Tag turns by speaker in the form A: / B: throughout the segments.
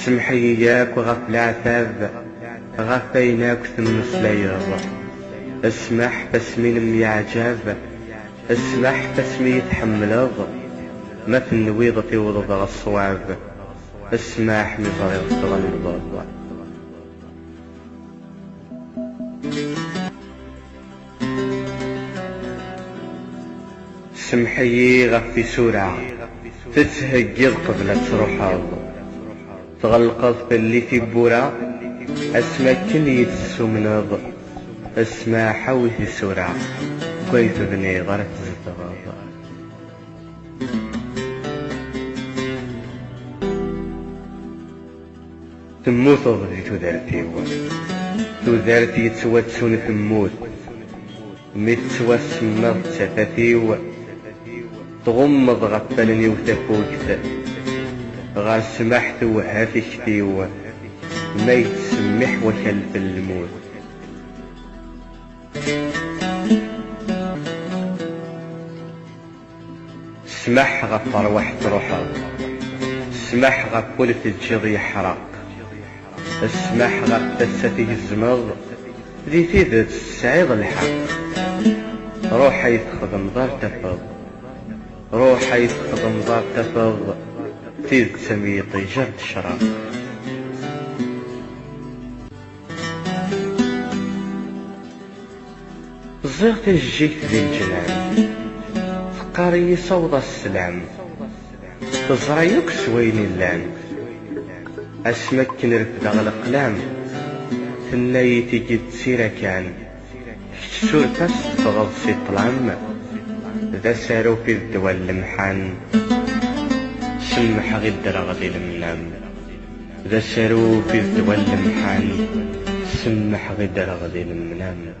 A: Semmeḥ-iyi yakk ɣef leɛtab, ɣef ayen akk temmeslayeḍ. Smeḥ asmi nemyeɛjab, smeḥ asmi iyi-tḥemmleḍ, ma tenwiḍ tiwḍeḍ ɣer ṣṣwab, smeḥ mi ẓriɣ tɣelḍeḍ. Semḥ-iyi ɣef tisura tettheggiḍ qbel ad truḥeḍ, tɣelqeḍ fell-i tiwwura asmi akken iyi-d-tessumneḍ, ssmaḥ awi tisura deg way tebniḍ ara tzedɣeḍ. Temmuteḍ di tudert-iw. Tudert yettwattun temmut. Mi tettwasemmaḍ d tafat-iw. Tɣummeḍ ɣef wallen-iw tafukt. Ɣer ssmaḥ tewehha tikti-w. Ma yettsemmiḥ wakal n lmut. Ssmaḥ ɣef rrwaḥ truḥeḍ. Ssmaḥ ɣef wul teǧǧiḍ yeḥreq. Ssmaḥ ɣef tassa tgezzmeḍ, di tidet tesɛiḍ lḥeqq. Ruḥ ay txedmeḍ ar tafeḍ. Ruḥ ay txedmeḍ ar tafeḍ tidet am yiṭij ar tecreq. Ẓẓiɣ tajejjigt di leǧnan. Teqqar-iyi sawḍ-as sslam. Teẓra yakk s wayen illan. Asmi akken refdeɣ leqlam. Tenna-yi tigi d tira kan. Kečč suref-as teffɣeḍ si ṭṭlam. D asarup i d ddwa n lemḥan. Semmḥeɣ i ddreɣ di lemnam. D asarup i d ddwa n lemḥan. Semmḥeɣ i ddreɣ di lemnam.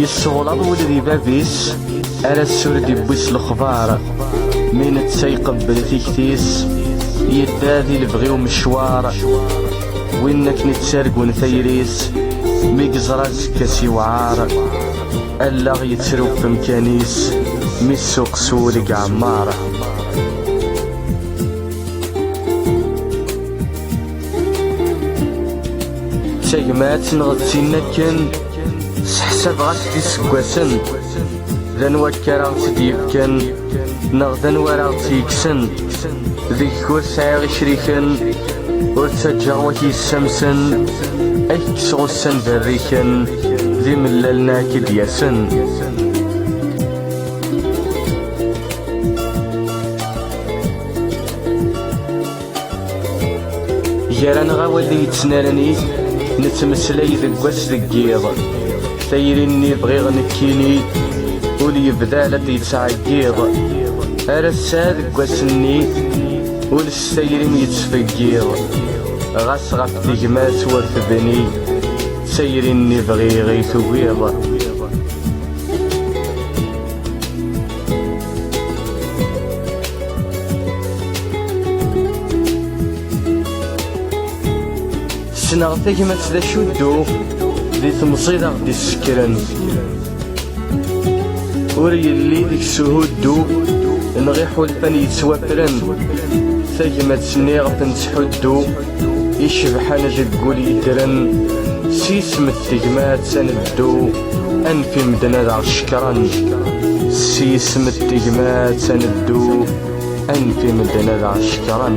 A: Yesseɣlaḍ wul di bab-is Ara s-sur d-iwwi s lexbar Mi netta iqebbel tikti-s Yedda di lebɣi umecwar Win akken i ttargun tayri-s Mi yeẓra azekka s iwɛar Allaɣ yettru ɣef umkan-is Mi ssuq s wul i iɛemmer tagmat neɣ d tin akken seḥsab ɣas d iseggasen d anwa akka ara ɣ-tt-id-yefken neɣ d anwa ara ɣ-tt-yekksen deg-k ur sɛiɣ icriken ur ttaǧǧaɣ wak yessamsen ad k-kkseɣ ussan berriken d imellalen ad k-id-yasen Gar-aneɣ awal i yettnaren it, nettmeslay deg wass deg yiḍ. Tayri-nni bɣiɣ nekkini, ul yebda la d-yettɛeggiḍ. Ar ass-a deg wass-nni, ul s tayri-m yettfeggiḍ. Ɣas ɣef tegmat ur tebni, d tayri-nni bɣiɣ i tugiḍ. Ssneɣ tagmat d acu dduɣ di temẓi d aɣ-d-issekren ur yelli deg-s uhuddu neɣ iḥulfan yettwafren tagmat-nni ɣef nettḥuddu icebḥen deg wul yeddren s ismet tegmat ad neddu anef i medden ad aɣ-cekren s ismet tegmat ad neddu anef i medden ad aɣ-cekren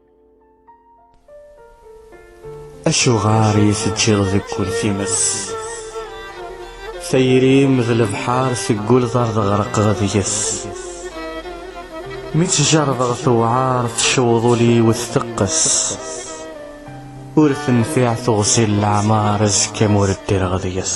A: Acuɣer i teǧǧiḍ deg wul times Tayri-m d lebḥar tegguleḍ ar teɣreqeḍ deg-s Mi tt-jerrdeɣ tewɛer tecweḍ ul-iw tteqqes Ur tenfiɛ teɣzi n leɛmer azekka m'ur ddireɣ deg-s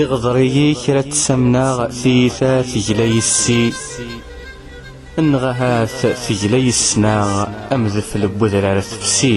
A: Iɣḍer-iyi kra ttamneɣ tiyita tegla yessi Enneɣ ahat tegla yesnaɣ amdefel n wedrar tefsi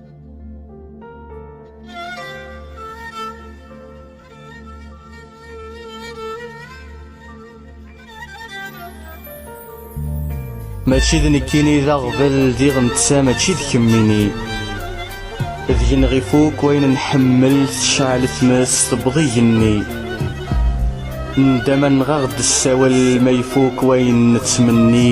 A: Mačči d nekkini d aɣbel diɣ netta mačči d kemmini d genɣ ifuk wayen nḥemmel tecɛel tmes tewweḍ igenni ndama nɣaɣ-d ssawel ma ifuk wayen nettmenni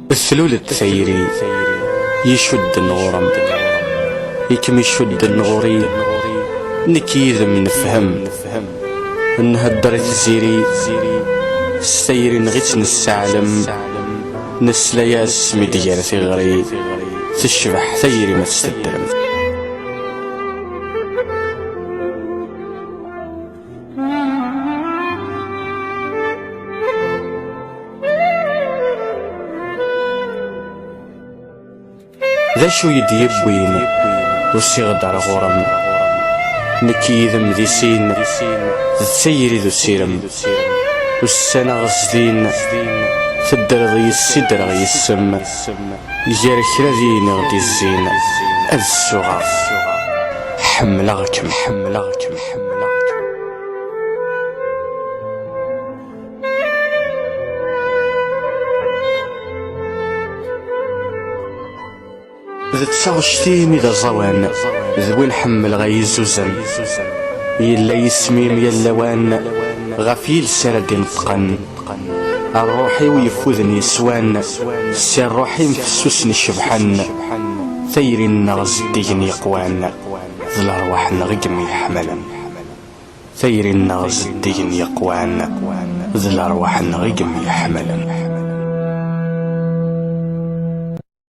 A: Slul-d tayri icudden ɣur-m, i kem-icudden ɣur-i, nekk yid-m nefhem, nhedder i tziri, s tayri neɣ i tt-nesseɛlem, nesla-as mi d-gar tiɣri, tecbeḥ tayri ma tt-teddrem. D acu i d-yewwin usiɣ-d ar ɣur-m Nekk yid-m di sin d tayri d usirem Ussan-aɣ zdin teddreḍ yis-s i ddreɣ yis-m Gar kra d yineɣ d izzin ad ssuɣeɣ Ḥemmleɣ-kem, ḥemmleɣ-kem, ḥemmleɣ-kem. D taɣect-im i d aẓawan D win ḥemmleɣ ay izzuzen Yella yisem-im yal lawan Ɣef yiles ara d-ineṭṭqen Rruḥ-iw yeffuden yeswan Si rruḥ-im fessusen cebḥen Tayri-nneɣ zeddigen yeqwan D lerwaḥ-nneɣ i yemyeḥmalen Tayri-nneɣ zeddigen yeqwan D lerwaḥ-nneɣ i yemyeḥmalen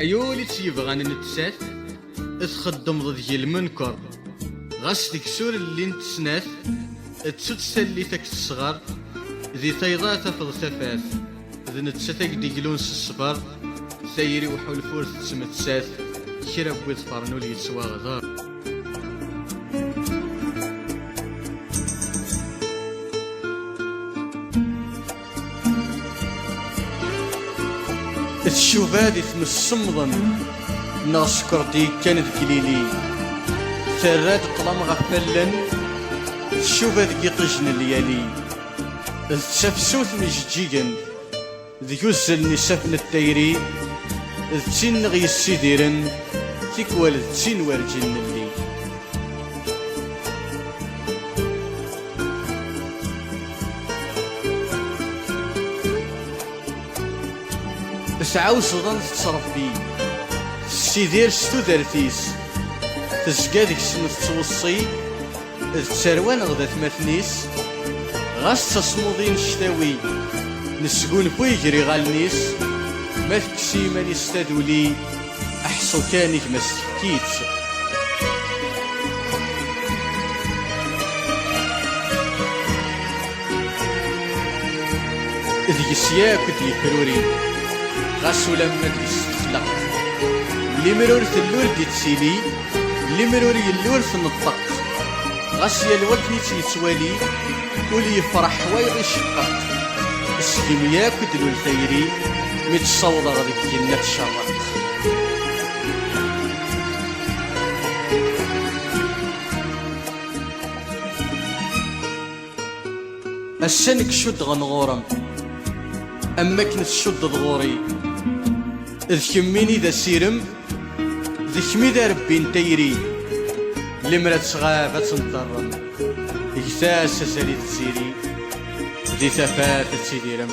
A: Ay ul i tt-yebɣan nettat I txeddmeḍ deg lmenker Ɣas deg sur llint snat Ttu-tt tallit ak tesɣer Di tayḍa tafeḍ tafat d nettat ay d-iglun s ṣṣber tayri uḥulfu ur tettmettat kra n wid ffren ur yettwaɣḍer tcuba di tmes semmḍen neɣ skerdi yekkan deg ilili terra-d ṭlam ɣef allen tcuba deg iṭij n lyali d tafsut n ijeǧǧigen deg uzzal n isaffen n tayri d tin neɣ yessidiren tikwal d tin werǧin nelli tettɛawzeḍ ad tettrebbi tessidir s tudert-is tezga deg-sen tettweṣṣi D tarwa neɣ d atmaten-is Ɣas d tasmuḍi n ctawi Nesgunfu iger iɣallen-is Ma tekkes i yiman-is taduli Aḥṣu kan i gma s-tefki-tt Deg-s yakk d-yefruri Ɣas ulamma deg-s texleq Limer ur tellul d-ittili Limer ur yelli ur tneṭṭeq Ɣas yal wakken i tt-yettwali Ul yefreḥ wayeḍ iceqqeq Seg-m yakk i d-lul tayri Mi tt-sawḍeɣ deg yenna tcerreq Ass-a nekk cuddeɣ-n ɣur-m Am akken tcuddeḍ ɣur-i D kemmini d asirem D kemmi d arebbi n tayri Lemmer ad tɣab ad tenṭerrem Get-as azal i tziri Di tafat ad tidirem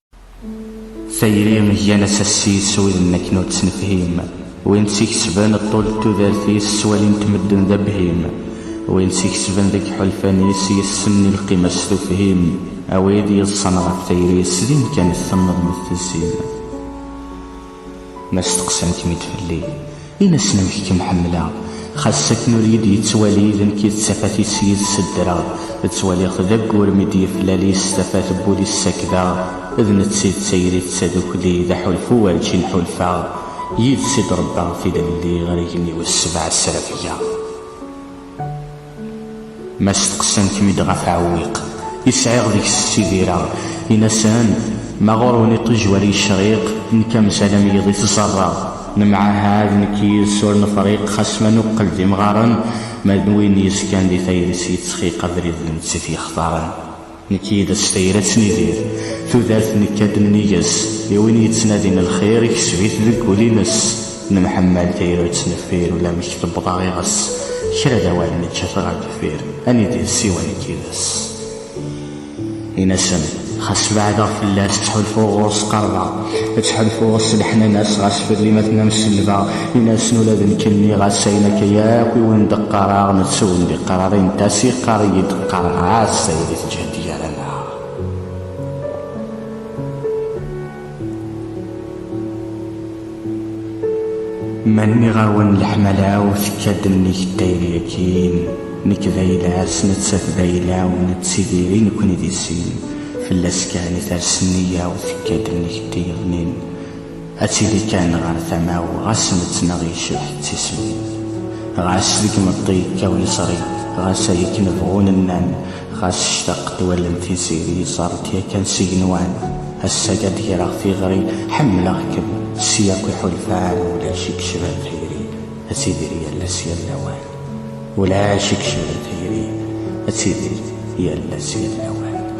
A: Tayri gan asassis widen akken ur tt-nefhim, win tt-ikesben ṭṭul n tudert-is ttwalin-t medden d abhim, win tt-ikesben deg yiḥulfan-is yessen i lqima-s s tufhim, a wid yeḍṣan ɣef tayri-s din kan temmeḍ mi t-tessim. Ma steqsan-kem-id fell-i, in-asen amek kem-ḥemmleɣ, xas s akken ur yi-d-yettwali d nekk i d tafat-is yid-s ddreɣ, ttwaliɣ-t d aggur mi d-yeflali-s tafat n wul-is sakdeɣ, d netta i d tayri d tadukli d aḥulfu werǧin ḥulfaɣ, yid-s i d-rebbaɣ tilelli ɣer igenni wis sebɛa srafgeɣ. Ma steqsan-kem-id ɣef aɛewwiq i sɛiɣ deg-s ssidireɣ, in-asen, Ma ɣur-wen iṭij war yecriq, nekk amzal am yiḍ i t-ẓerreɣ. Nemɛahad nekk yid-s ur nefriq, xas ma nuqel d imɣaren, ma d win yezgan di tayri-s yettxiq abrid d nettat yextaren. Nekk yid-s tayri ad tnidir. Tudert nekka-d nnig-s. I win yettnadin lxir, ikseb-it deg wul-ines. Nemḥemmal tayri ur tt-neffir, ulamek tewweḍ-aɣ iɣes. Kra d awal nekka-t ɣer deffir, ad nidir siwa nekk yid-s. In-asen, xas beɛdeɣ fell-as, ttḥulfuɣ ɣur-s qerbeɣ. Ttḥulfuɣ s leḥnana-s, ɣas fell-i ma tennam selbeɣ. In-asen ula d nekk nniɣ-as ayen akka yakk i wen-d-qqareɣ, netta ur wen-d-iqqar ara, in-t-as, iqqar-iyi-d. Qqareɣ-as tayri teǧhed gar-aneɣ. Ma nniɣ-awen leḥmala-w tekka-d nnig n tayri akkin, nekk d ayla-s, nettat d ayla-w, nettidir i nekkni di sin, fell-as kan i ters nniya-w tekka-d nnig n tiyeḍmin. Ad tili kan ɣer tama-w, ɣas nettnaɣ yecbeḥ d tislit. Ɣas deg imeṭṭi yekkaw leṣrik, ɣas ay akken bɣun nnan, ɣas ctaqet wallen tiziri yeẓer-d yakan s igenwan. Ass-agi ad d-greɣ tiɣri, Ḥemmleɣ-kem, s yakk iḥulfan, ulac i yecban tayri, ad tidir yal ass yal lawan. Ulac i yecban tayri, ad tidir yal ass yal lawan.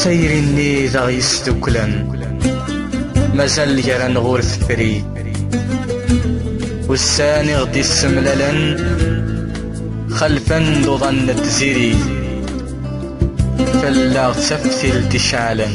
A: tayri-nni d aɣ-yesduklen mazal gar-aneɣ ur tefri ussan i ɣ-d-issemlalen xelfen d uḍan n tziri fell-aɣ d taftilt iceɛlen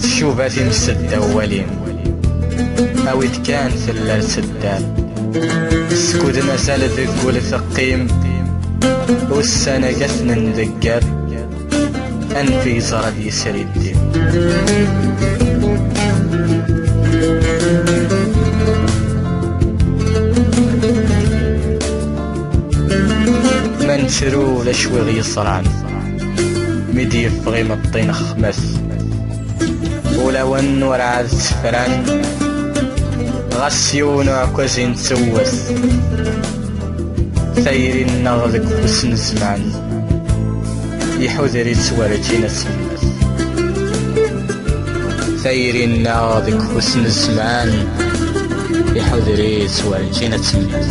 A: Tcuba timsedda wali Awit kan tella tseddar Skuden asal deg ul teqqim Ussan agaten n deggar Anfi yeẓra d yesri ddim Man tru d acu i ɣ-yeṣran Mi d-yeffeɣ imeṭṭi n xmas Ulawen werɛad ssefran Ɣas yiwen uɛekkaz i nettewwet Tayri-nneɣ deg ufus n zzman Iḥuder-itt werǧin ad temmet Tayri-nneɣ deg ufus n zzman Iḥuder-itt werǧin ad temmet